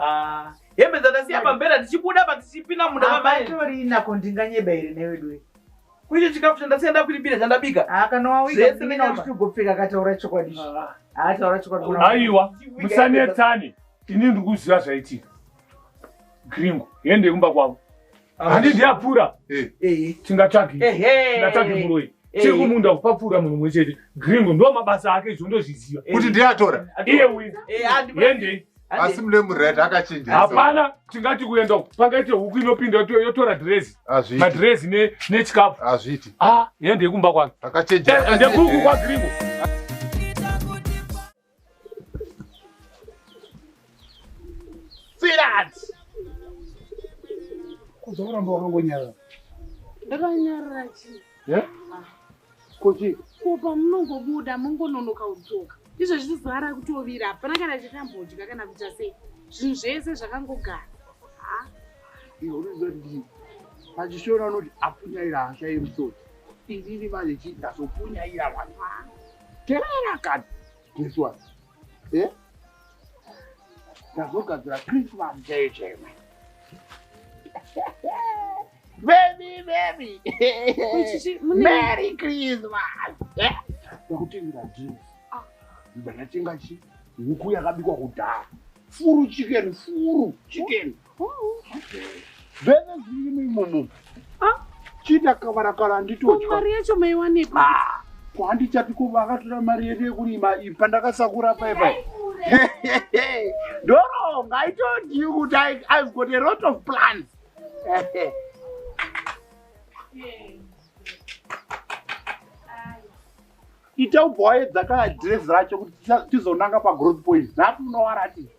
Ah, hembe dzatasiya pambera tichibuda pa tichipinda munda mamainako ndinganyeba here neweduwe kuite chikafu chandasiya ndakuibira chandabika ah, kanawaigopfeka kataura chokwadi ah. ataura chokwadi aiwa musanetsane ini ndikuziva zvaitika gringo hende kumba kwavo handi ndiyapfura eh. eh. tingatsvagi eh, tingatsvagi muroi tiri kumunda kupapfura munhu mwe chete gringo ndo mabasa ake izvo ndozviziva kuti ndiyatora iye uyu yendei asi mune mured akachinja hapana tingati kuenda uku pangaite huku inopinda yotora dhirezi madhirezi nechikafu hazviiti ah, yendei kumba kwange ndekuku kwagringo Firat! Kudzo kuramba wakangonyarara. Ndakanyarara chii? Yeah? Ah. Kuchi? Kupa munongobuda mongononoka udzoka. Izvo zvizara kutovira hapana kana chakambodya kana kuita sei. Zvinhu zvese zvakangogara. Ha? Ah. Iyo unoziva kuti ndii? Pachishona unoti apunyaira hasha yemusoro. Inini manje chii ndazopunyaira mwana wangu. Terera kani. This one. Eh? Tazogadzira Christmas day chema. Baby, baby. Merry Christmas. Eh? Ndakutengira jeans. Ah. Ndakatenga chi huku yakabikwa kudhara. Furu chicken, furu chicken. Oh. zvese zvirimo imomo chiita kavara kara handitodya mari yacho maiwanepi ah, ko handichati ko vakatora mari yedu yekurima pandakasakura paipai ndoronga i told you kuti i've got a lot of plans ita ubwaedza ka adress racho kuti tizonanga pagrowth point napo unowaratidza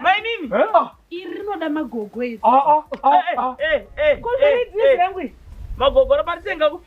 mainini iri rinoda magogo iri magogo raparitenga kupi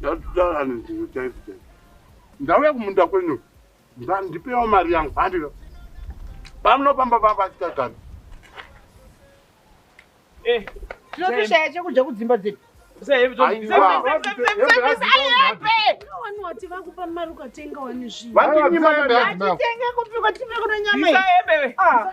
Ndatoda vanhu ndizvo chaidzo chaidzo. Ndauya kumunda kwenyu. Ndandipewa mari yangu. Handika. Pamno pamba pamba chitagara. Eh. Tinotoshaya chekudya kudzimba dzedu. wati vakupa mari ukatenga wani zvinhu vatenge kupikwa tipe kuno nyama